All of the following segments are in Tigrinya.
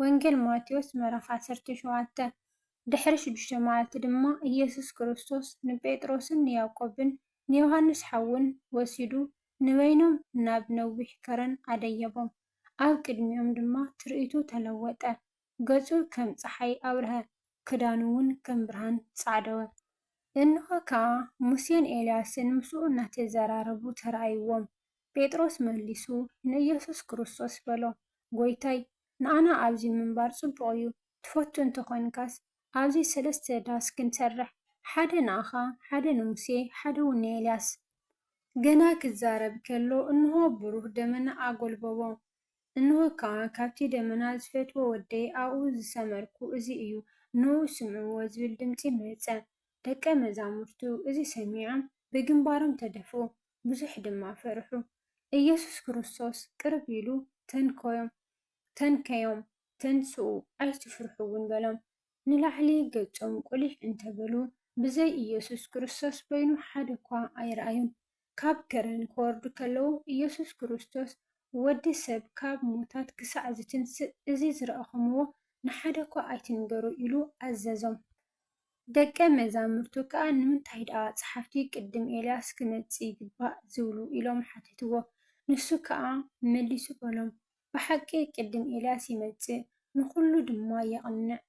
ወንጌል ማቴዎስ ምዕራፍ ዓሰርተ ሸውዓተ። ድሕሪ ሽዱሽተ መዓልቲ ድማ ኢየሱስ ክርስቶስ ንጴጥሮስን ንያዕቆብን ንዮሐንስ ሓዉን ወሲዱ ንበይኖም ናብ ነዊሕ ከረን ኣደየቦም። ኣብ ቅድሚኦም ድማ ትርኢቱ ተለወጠ። ገጹ ከም ጸሓይ ኣብርሀ፣ ክዳኑውን ከም ብርሃን ጻዕደወ። እንሆ ከኣ ሙሴን ኤልያስን ምስኡ እናተዘራረቡ ተራእይዎም። ጴጥሮስ መሊሱ ንኢየሱስ ክርስቶስ በሎ፣ ጐይታይ፣ ንኣና ኣብዚ ምንባር ጽቡቕ እዩ፣ ትፈቱ እንተ ዄንካስ፣ ኣብዚ ሰለስተ ዳስ ክንሰርሕ፣ ሓደ ንኣኻ፣ ሓደ ንሙሴ፣ ሓደውን ንኤልያስ። ገና ኪዛረብ ከሎ፣ እንሆ፣ ብሩህ ደመና ኣጐልበቦ፣ እንሆ ከኣ፣ ካብቲ ደመና፣ ዝፈትዎ ወደይ፣ ኣብኡ ዝሰመርኩ እዚ እዩ፣ ንእኡ ስምዕዎ ዚብል ድምጺ መጸ። ደቀ መዛሙርቱ እዚ ሰሚዖም፣ ብግምባሮም ተደፍኡ፣ ብዙሕ ድማ ፈርሑ። ኢየሱስ ክርስቶስ ቅርብ ኢሉ ተንከዮም፣ ተንከዮም፣ ተንስኡ፣ ኣይትፍርሑ እውን በሎም። ንላዕሊ ገጾም ቁሊሕ እንተ በሉ፣ ብዘይ ኢየሱስ ክርስቶስ በይኑ ሓደ እኳ ኣይረኣዩን። ካብ ከረን ክወርዱ ከለዉ ኢየሱስ ክርስቶስ ወዲ ሰብ ካብ ሙታት ክሳዕ ዝትንስእ እዚ ዝረኣኹምዎ ንሓደ እኳ ኣይትንገሩ ኢሉ ኣዘዞም። ደቀ መዛሙርቱ ከኣ ንምንታይ ደኣ ጸሓፍቲ ቅድም ኤልያስ ኪመጽእ ይግባእ ዚብሉ? ኢሎም ሓተትዎ። ንሱ ከኣ መሊሱ በሎም፣ ብሓቂ ቅድም ኤልያስ ይመጽእ፣ ንዅሉ ድማ የቕንዕ።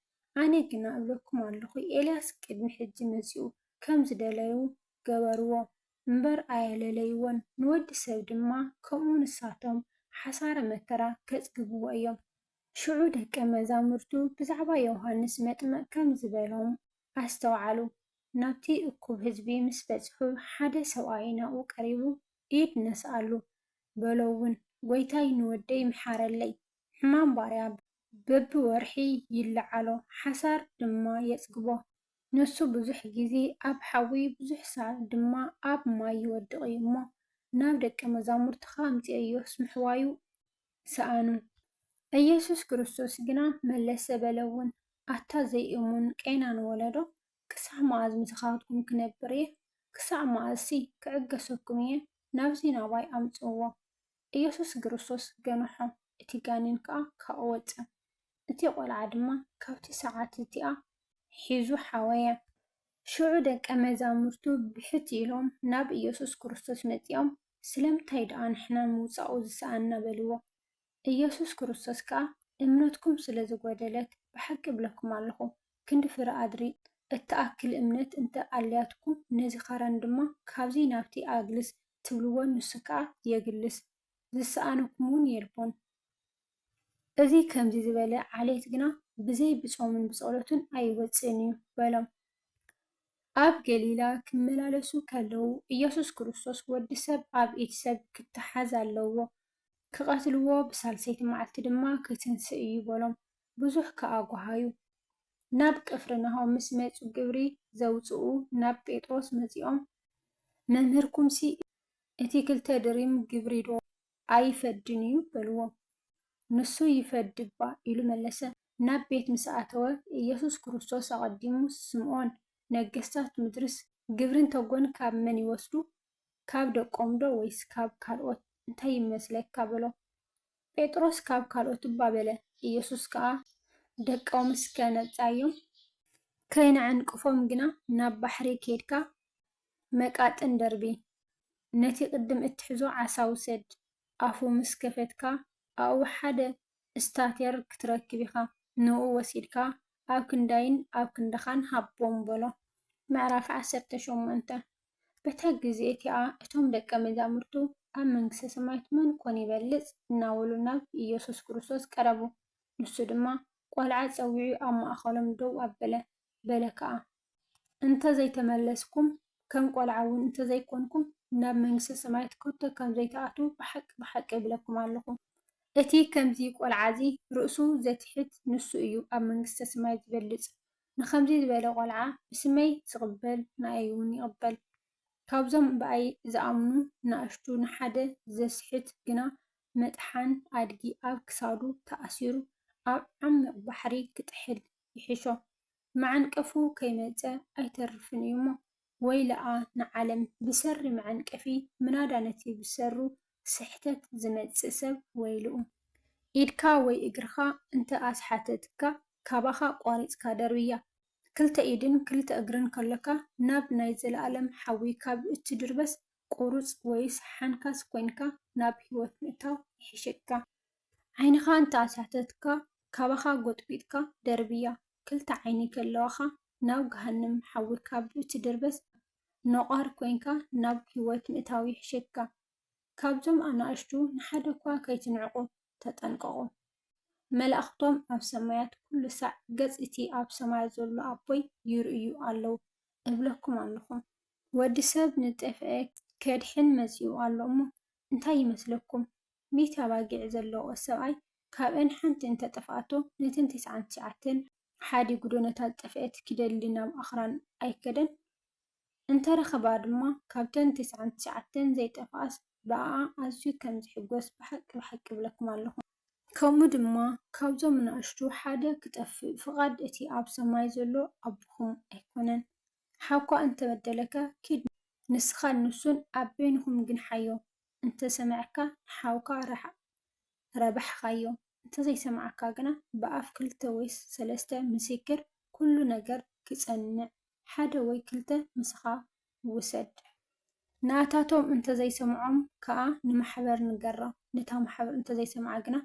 ኣነ ግና እብለኩም ኣሎኹ፣ ኤልያስ ቅድሚ ሕጂ መጺኡ፣ ከም ዝደለዩ ገበርዎ እምበር፣ ኣየለለይዎን። ንወዲ ሰብ ድማ ከምኡ ንሳቶም ሓሳረ መከራ ኬጽግብዎ እዮም። ሽዑ ደቀ መዛሙርቱ ብዛዕባ ዮሃንስ መጥምቕ ከምዚ በሎም፣ ኣስተውዓሉ፣ ናብቲ እኩብ ህዝቢ ምስ በጽሑ፣ ሓደ ሰብኣይ ናብኡ ቀሪቡ፣ ኢድ ነስኣሉ፣ በሎውን፣ ጐይታይ ንወደይ ምሓረለይ፣ ሕማም ባርያ በብወርሒ ይለዓሎ፣ ሓሳር ድማ የጽግቦ፣ ንሱ ብዙሕ ግዜ ኣብ ሓዊ ብዙሕ ሳዕ ድማ ኣብ ማይ ይወድቕ'ዩ እሞ፣ ናብ ደቀ መዛሙርትኻ ኣምጽኦዮስ ምሕዋዩ ሰኣኑ። ኢየሱስ ክርስቶስ ግና መለሰ በለውን፣ ኣታ ዘይእሙን ቄናን ወለዶ፣ ክሳዕ መኣዝ ምሳኻትኩም ክነብር እየ? ክሳዕ መኣዝሲ ክዕገሰኩም እየ? ናብዚ ናባይ ኣምጽእዎ። ኢየሱስ ክርስቶስ ገንሖ፣ እቲ ጋኔን ከኣ ካብኡ ወጸ። እቲ ቆልዓ ድማ ካብቲ ሰዓት እቲኣ ኂዙ ሓወየ። ሽዑ ደቀ መዛሙርቱ ብሕት ኢሎም ናብ ኢየሱስ ክርስቶስ መጺኦም፣ ስለምንታይ ደኣ ንሕና ምውጻኡ ዝሰኣንና በልዎ። ኢየሱስ ክርስቶስ ከኣ እምነትኩም ስለ ዝጐደለት ብሓቂ እብለኩም ኣሎኹ፣ ክንዲ ፍረ ኣድሪ እትኣክል እምነት እንተ ኣልያትኩም ነዚ ኸረን ድማ ካብዚ ናብቲ ኣግልስ ትብልዎ ንሱ ከኣ የግልስ ዝሰኣነኩምውን የልቦን። እዚ ከምዚ ዝበለ ዓሌት ግና ብዘይ ብጾምን ብጸሎትን ኣይወጽእን እዩ በሎም። ኣብ ገሊላ ኪመላለሱ ከለዉ፣ ኢየሱስ ክርስቶስ ወዲ ሰብ ኣብ ኢድ ሰብ ኪተሓዝ ኣለዎ፣ ኪቐትልዎ፣ ብሳልሰይቲ መዓልቲ ድማ ኪትንስእ እዩ በሎም። ብዙሕ ከኣ ጐሃዩ። ናብ ቅፍርናሆም ምስ መጹ ግብሪ ዘውጽኡ ናብ ጴጥሮስ መጺኦም መምህርኩምሲ እቲ ክልተ ድሪም ግብሪዶ? ኣይፈድን እዩ በልዎ። ንሱ ይፈዲ እባ ኢሉ መለሰ። ናብ ቤት ምስ ኣተወ፣ ኢየሱስ ክርስቶስ ኣቐዲሙ ስምዖን፣ ነገሥታት ምድርስ ግብርን ተጎን ካብ መን ይወስዱ? ካብ ደቆምዶ ወይስ ካብ ካልኦት? እንታይ ይመስለካ? በሎ። ጴጥሮስ ካብ ካልኦት እባ በለ። ኢየሱስ ከኣ ደቆምስከ ነጻዮም? ከይነዕንቅፎም ግና ናብ ባሕሪ ኬድካ መቃጥን ደርቢ። ነቲ ቅድም እትሕዞ ዓሳ ውሰድ፣ ኣፉ ምስ ከፈትካ ኣኡ ሓደ እስታቴር ክትረክብ ኢኻ፣ ንኡ ወሲድካ ኣብ ክንዳይን ኣብ ክንዳኻን ሃቦም በሎ። ምዕራፍ ዓሰርተ ሸሞንተ። በታ ግዜ እቲኣ እቶም ደቀ መዛሙርቱ ኣብ መንግስተ ሰማያት መን ኮን ይበልጽ እናበሉ ናብ ኢየሱስ ክርስቶስ ቀረቡ። ንሱ ድማ ቆልዓ ጸዊዑ ኣብ ማእከሎም ደው ኣበለ፣ በለ ከኣ። እንተ ዘይተመለስኩም፣ ከም ቈልዓ እውን እንተ ዘይኰንኩም፣ ናብ መንግስተ ሰማያት ከቶ ኸም ዘይትኣትዉ ብሓቂ ብሓቂ እብለኩም ኣሎኹ። እቲ ኸምዚ ቈልዓ እዚ ርእሱ ዜትሕት፣ ንሱ እዩ ኣብ መንግስተ ሰማይ ዚበልጽ። ንኸምዚ ዝበለ ቈልዓ ብስመይ ዚቕበል፣ ንኣይውን ይቕበል። ካብዞም ብኣይ ዝኣምኑ ንኣሽቱ ንሓደ ዜስሕት ግና፣ መጥሓን ኣድጊ ኣብ ክሳዱ ተኣሲሩ፣ ኣብ ዓሚቕ ባሕሪ ኺጥሕል ይሕሾ። መዓንቀፉ ከይመጸ ኣይተርፍን እዩሞ ወይለኣ ንዓለም ብሰሪ መዐንቀፊ ምናዳ ነቲ ብሰሩ ስሕተት ዝመጽእ ሰብ ወይልኡ። ኢድካ ወይ እግርኻ እንተ ኣስሓተትካ ካባኻ ቋሪጽካ ደርብያ። ክልተ ኢድን ክልተ እግርን ከሎካ ናብ ናይ ዘለኣለም ሓዊ ካብ እትድርበስ ቁሩጽ ወይስ ሓንካስ ኮይንካ ናብ ህይወት ምእታው ይሕሸካ። ዓይንኻ እንተ ኣሳተትካ ካባኻ ጎጥጒጥካ ደርብያ ክልተ ዓይኒ ከለዋኻ ናብ ገሃንም ሓዊ ካብ እትድርበስ ነቋሪ ኮይንካ ናብ ሂወት ምእታው ይሕሸካ ካብዞም ኣናእሽቱ ንሓደኳ ከይትንዕቁ ተጠንቀቁ መላእኽቶም ኣብ ሰማያት ኩሉ ሳዕ ገጽ እቲ ኣብ ሰማያት ዘሎ ኣቦይ ይርእዩ ኣለዉ እብለኩም ኣለኹ ወዲ ሰብ ንጠፍኤ ከድሕን መጺኡ ኣሎ እሞ እንታይ ይመስለኩም ሚእቲ ኣባጊዕ ዘለውኦ ሰብኣይ ካብኣን ሓንቲ እንተ ጠፍኣቶ፣ ነተን ተስዓን ትሽዓተን ሓዲጉዶ ነታ ዝጠፍኤት ኪደሊ ናብ ኣኽራን ኣይከደን? እንተ ረኸባኣ ድማ ካብተን ተስዓን ትሽዓተን ዘይጠፍኣስ ብኣኣ ኣዝዩ ከም ዚሕጐስ ብሓቂ ብሓቂ እብለኩም ኣሎኹ። ከምኡ ድማ ካብዞም ናእሽቱ ሓደ ኪጠፍእ ፍቓድ እቲ ኣብ ሰማይ ዘሎ ኣቦኹም ኣይኮነን። ሓውካ እንተ በደለካ፣ ኪድ ንስኻን ንሱን ኣብ በይንኹም ግንሓዮ፣ እንተሰሚዕካ ንሓውካ ርሓቕ ረብሓኻዮ እንተዘይሰማዕካ ግና ብኣፍ ክልተ ወይ ሰለስተ ምስክር ኩሉ ነገር ክጸንዕ ሓደ ወይ ክልተ ምሳኻ ውሰድ ናታቶም እንተዘይሰምዖም ከኣ ንማሕበር ንገራ ነታ ማሕበር እንተዘይሰምዓ ግና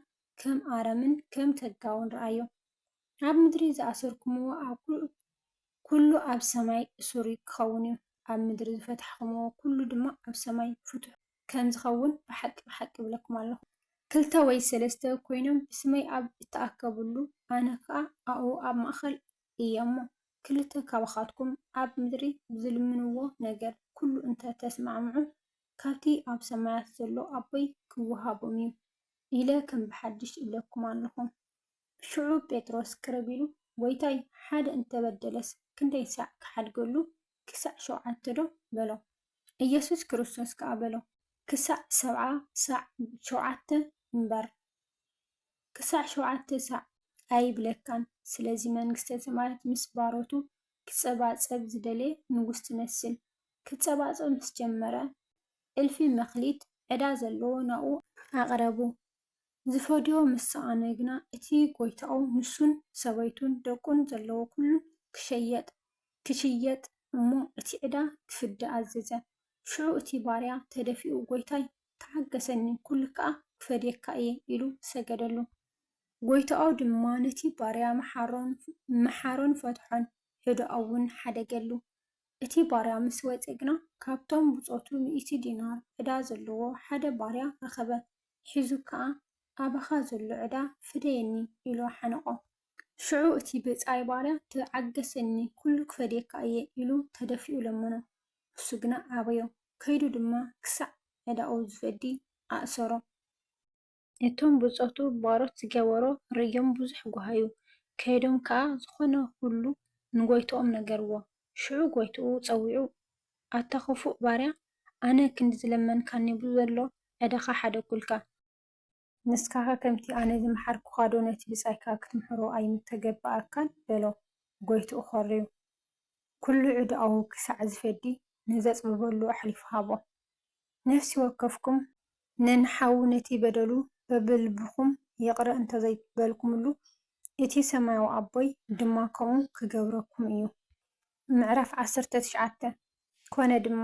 ከም ኣረምን ከም ተጋውን ርኣዮ ኣብ ምድሪ ዝኣሰርኩምዎ ኣብ ኵሉ ኣብ ሰማይ እሱር ኪኸውን እዩ፣ ኣብ ምድሪ ዝፈታሕኩምዎ ኵሉ ድማ ኣብ ሰማይ ፍቱሕ ከም ዚኸውን፣ ብሓቂ፣ ብሓቂ እብለኩም ኣሎኹ። ክልተ ወይ ሰለስተ ኰይኖም ብስመይ ኣብ እተኣከቡሉ፣ ኣነ ኸኣ ኣብኡ ኣብ ማእከል እየ እሞ፣ ክልተ ኻባኻትኩም ኣብ ምድሪ ብዚልምንዎ ነገር ኵሉ እንተ ተስማዕምዑ፣ ካብቲ ኣብ ሰማያት ዘሎ ኣቦይ ኪውሃቦም እዩ፣ ኢለ ከም ብሓድሽ እብለኩም ኣሎኹ። ሽዑ ጴጥሮስ ቅርብ ኢሉ፣ ጐይታይ፣ ሓደ እንተ በደለስ፣ ክንደይ ሳዕ ክሓድገሉ? ክሳዕ ሸውዓተዶ? በሎ። ኢየሱስ ክርስቶስ ከኣ በሎ፣ ክሳዕ ሰብዓ ሳዕ ሸውዓተ እምበር፣ ክሳዕ ሸውዓተ ሳዕ ኣይብለካን። ስለዚ መንግስተ ሰማያት ምስ ባሮቱ ኪጸባጸብ ዝደለየ ንጉስ ትመስል። ኪጸባጸብ ምስ ጀመረ፣ እልፊ መክሊት ዕዳ ዘለዎ ናብኡ ኣቕረቡ። ዚፈድዮ ምስ ሰኣነ ግና፣ እቲ ጐይታኡ ንሱን ሰበይቱን ደቁን ዘለዎ ዅሉ ኺሸየጥ ኪሽየጥ እሞ እቲ ዕዳ ኺፍደ ኣዘዘ። ሽዑ እቲ ባርያ ተደፊኡ፣ ጐይታይ፣ ተዓገሰኒ፣ ኵሉ ከኣ ክፈድየካ እየ፣ ኢሉ ሰገደሉ። ጐይታኡ ድማ ነቲ ባርያ መሓሮን ፈትሖን፣ ዕዳኡውን ሓደገሉ። እቲ ባርያ ምስ ወጸ ግና፣ ካብቶም ብጾቱ ሚእቲ ዲናር ዕዳ ዘለዎ ሓደ ባርያ ረኸበ፣ ሒዙ ከኣ፣ ኣባኻ ዘሎ ዕዳ ፍደየኒ፣ ኢሉ ሓነቖ። ሽዑ እቲ ብጻይ ባርያ፣ ተዓገሰኒ፣ ኵሉ ክፈድየካ እየ፣ ኢሉ ተደፊኡ ለመኖ። ንሱ ግና ኣበዮ፣ ከይዱ ድማ ክሳዕ ዕዳኡ ዝፈዲ ኣእሰሮ። እቶም ብጾቱ ባሮት ዝገበሮ ርእዮም ብዙሕ ጓሃዩ፣ ከይዶም ከኣ ዝዀነ ዅሉ ንጐይታኦም ነገርዎ። ሽዑ ጎይትኡ ጸዊዑ፣ ኣታ ኽፉእ ባርያ፣ ኣነ ክንዲ ዝለመንካኒ ብዘሎ ዕዳኻ ሓደግኩልካ። ንስኻኸ ከምቲ ኣነ ዝመሓርኩኻዶ ነቲ ብጻይካ ክትምሕሮ ኣይምተገብኣካን? በሎ። ጎይትኡ ኾርዩ፣ ኩሉ ዕዳኡ ክሳዕ ዝፈዲ ንዘጽብበሉ ኣሕሊፉ ሃቦ። ነፍሲ ወከፍኩም ን ንሓዉ ነቲ በደሉ በብልብኩም ይቅረ እንተዘይበልኩምሉ እቲ ሰማያዊ ኣቦይ ድማ ከምኡ ክገብረኩም እዩ። ምዕራፍ ዓሰርተ ትሽዓተ ኮነ ድማ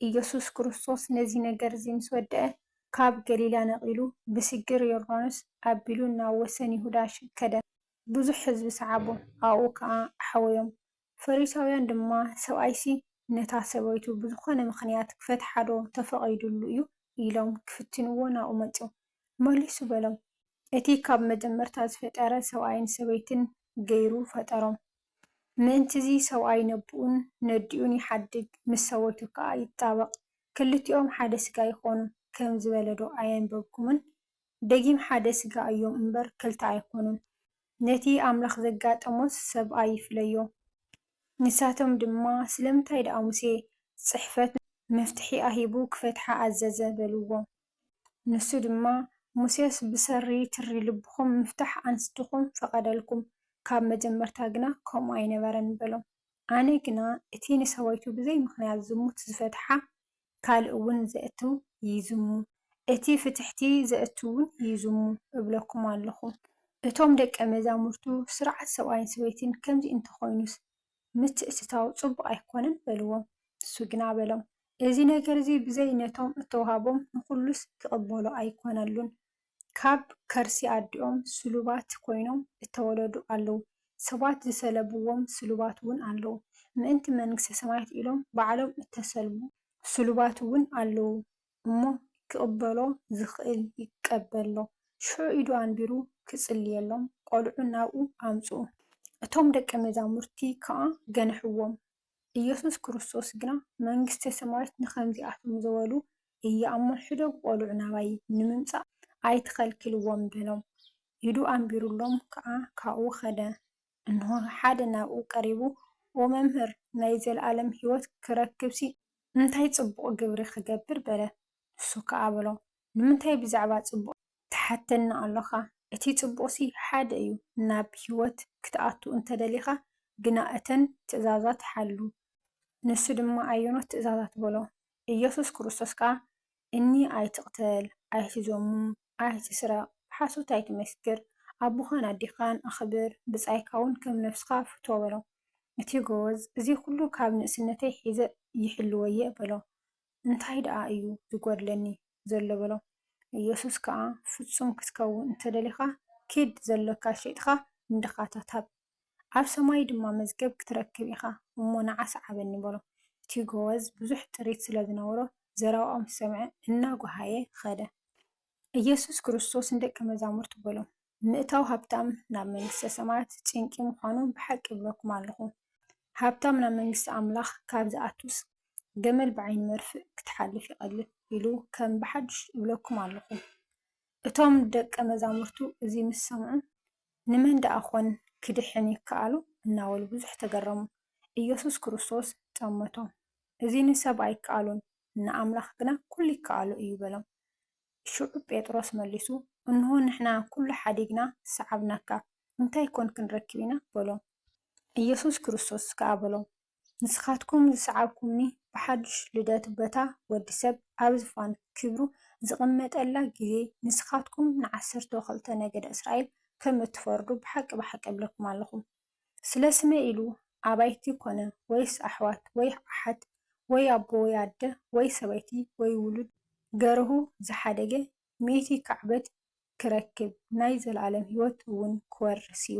ኢየሱስ ክርስቶስ ነዚ ነገር እዚ ምስ ወደኣ ካብ ገሊላ ነቂሉ ብስግር ዮርዳኖስ ኣቢሉ ናብ ወሰን ይሁዳ ከደ። ብዙሕ ሕዝቢ ሰዓቦ ኣብኡ ከኣ ኣሕወዮም ፈሪሳውያን ድማ፣ ሰብኣይሲ ነታ ሰበይቱ ብዝኾነ ምኽንያት ኪፈትሓዶ ተፈቒዱሉ እዩ? ኢሎም ኪፍትንዎ ናብኡ መጹ። መሊሱ በሎም፣ እቲ ኻብ መጀመርታ ዝፈጠረ፣ ሰብኣይን ሰበይትን ገይሩ ፈጠሮም። ምእንት'ዚ ሰብኣይ ነቦኡን ነዲኡን ይሓድግ፣ ምስ ሰበይቱ ከኣ ይጣበቕ፣ ክልቲኦም ሓደ ስጋ ይኾኑ ከም ዝበለዶ ኣየንበብኩምን? ደጊም ሓደ ስጋ እዮም እምበር፣ ክልተ ኣይኮኑን። ነቲ ኣምላኽ ዘጋጠሞስ ሰብኣይ ይፍለዮ። ንሳቶም ድማ፣ ስለምንታይ ደኣ ሙሴ ጽሕፈት መፍትሒኣ ሂቡ ክፈትሓ ኣዘዘ? በልዎ። ንሱ ድማ፣ ሙሴስ ብሰሪ ትሪ ልብኹም ምፍታሕ ኣንስትኹም ፈቐደልኩም፣ ካብ መጀመርታ ግና ከምኡ ኣይነበረን በሎም። ኣነ ግና እቲ ንሰበይቱ ብዘይ ምኽንያት ዝሙት ዝፈትሓ ካልእ ውን ዘእቱ ይዝሙ እቲ ፍትሕቲ ዘእቱ ውን ይዝሙ እብለኩም ኣሎኹ እቶም ደቀ መዛሙርቱ ስርዓት ሰብኣይን ሰበይትን ከምዚ እንተ ኾይኑስ ምትእትታው ጽቡቕ ኣይኮነን በልዎም ንሱ ግና በሎም እዚ ነገርዚ ብዘይ ነቶም እተዋህቦም ንኹሉስ ኪቕበሎ ኣይኮነሉን ካብ ከርሲ ኣዲኦም ስሉባት ኮይኖም እተወለዱ ኣለዉ፣ ሰባት ዝሰለብዎም ስሉባት እውን ኣለዉ፣ ምእንቲ መንግስተ ሰማያት ኢሎም ባዕሎም እተሰልቡ ስሉባት እውን ኣለዉ እሞ፣ ኪቕበሎ ዚኽእል ይቀበሎ። ሽዑ ኢዱ ኣንቢሩ ኺጽልየሎም፣ ቈልዑ ናብኡ ኣምጽኡ። እቶም ደቀ መዛሙርቲ ከኣ ገንሕዎም፣ ኢየሱስ ክርስቶስ ግና መንግሥተ ሰማያት ንኸምዚኣቶም ዝበሉ እያ እሞ ሕደጉ ቈልዑ ናባይ ንምምጻእ ኣይትኸልክልዎም በሎም። ኢዱ ኣንቢሩሎም ከኣ ካብኡ ኸደ። እንሆ ሓደ ናብኡ ቀሪቡ ኦ መምህር ናይ ዘለዓለም ሕይወት ክረክብሲ እንታይ ጽቡቕ ግብሪ ኽገብር በለ። ንሱ ከኣ በሎ ንምንታይ ብዛዕባ ጽቡቕ ትሓተኒ ኣሎኻ? እቲ ጽቡቕሲ ሓደ እዩ፣ ናብ ህይወት ክትኣቱ እንተ ደሊኻ ግና እተን ትእዛዛት ሓሉ። ንሱ ድማ ኣየኖት ትእዛዛት? በሎ። ኢየሱስ ክርስቶስ ከኣ እኒ ኣይትቕተል፣ ኣይትዘሙ፣ ኣይትስረቕ፣ ብሓሶት ኣይትመስክር፣ ኣቦኻን ኣዴኻን ኣኽብር፣ ብጻይካውን ከም ነፍስኻ ፍቶ በሎ። እቲ ጎበዝ እዚ ኹሉ ካብ ንእስነተይ ሒዘ ይሕልዎ'የ በሎ። እንታይ ደኣ እዩ ዚጐድለኒ ዘሎ? በሎ። የሱስ ከኣ፣ ፍጹም ክትከውን እንተ ደሊኻ፣ ኪድ፣ ዘሎካ ሼጥካ ንድኻታት ሃብ፣ ኣብ ሰማይ ድማ መዝገብ ክትረክብ ኢኻ፣ እሞ ንዓ ስዓበኒ፣ በሎ። እቲ ጐበዝ ብዙሕ ጥሪት ስለ ዝነበሮ፣ ዘረባኦም ሰምዐ፣ እናጐሃየ ኸደ። ኢየሱስ ክርስቶስ ንደቀ መዛሙርቱ በሎም፣ ምእታው ሃብታም ናብ መንግሥተ ሰማያት ጭንቂ ምዃኑ ብሓቂ እብለኩም ኣለኹ። ሃብታም ናብ መንግሥቲ ኣምላኽ ካብ ዚኣቱስ፣ ገመል ብዓይኒ መርፍእ ክትሓልፍ ይቐልል ኢሉ ከም ብሓድሽ እብለኩም ኣለኹ። እቶም ደቀ መዛሙርቱ እዚ ምስ ሰምዑ፣ ንመን ደኣ ኾን ኪድኅን ይከኣሎ? እናበሉ ብዙኅ ተገረሙ። ኢየሱስ ክርስቶስ ጠመቶም፣ እዚ ንሰብ ኣይከኣሎን፣ ንኣምላኽ ግና ኵሉ ይከኣሎ እዩ በሎም። ሽዑ ጴጥሮስ መሊሱ፣ እንሆ፣ ንሕና ኵሉ ሓዲግና ሰዓብናካ፣ እንታይ ኰን ክንረክብ ኢና? በሎም። ኢየሱስ ክርስቶስ ከኣ በሎም፣ ንስኻትኩም ዝሰዓብኩምኒ ብሓድሽ ልደት በታ ወዲ ሰብ ኣብ ዝፋን ክብሩ ዝቕመጠላ ጊዜ ንስኻትኩም ንዓሰርተው ክልተ ነገደ እስራኤል ከም እትፈርዱ ብሓቂ ብሓቂ እብለኩም ኣሎኹ። ስለ ስመይ ኢሉ ኣባይቲ ኮነ ወይስ ኣሕዋት ወይ ኣሓት ወይ ኣቦ ወይ ኣደ ወይ ሰበይቲ ወይ ውሉድ ገርሁ ዝሓደገ ሚእቲ ካዕበት ክረክብ ናይ ዘለኣለም ሕይወት እውን ክወርስ እዩ።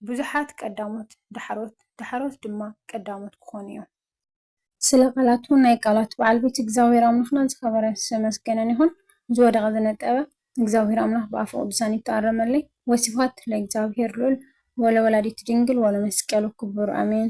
ብዙሓት ቀዳሞት ዳሕሮት ዳሕሮት ድማ ቀዳሞት ክኾኑ እዮም። ስለ ቃላቱ ናይ ቃላት በዓል ቤት እግዝኣብሄር ኣምላኽና ዝኸበረን ዝተመስገነን ይኹን። ዝወደቐ ዝነጠበ እግዝኣብሄር ኣምላኽ ብኣፈ ቅዱሳን ይተኣረመለይ። ወስብሃት ለእግዝኣብሄር ልዑል ወለወላዲቱ ድንግል ወለመስቀሉ ክቡር ኣሜን።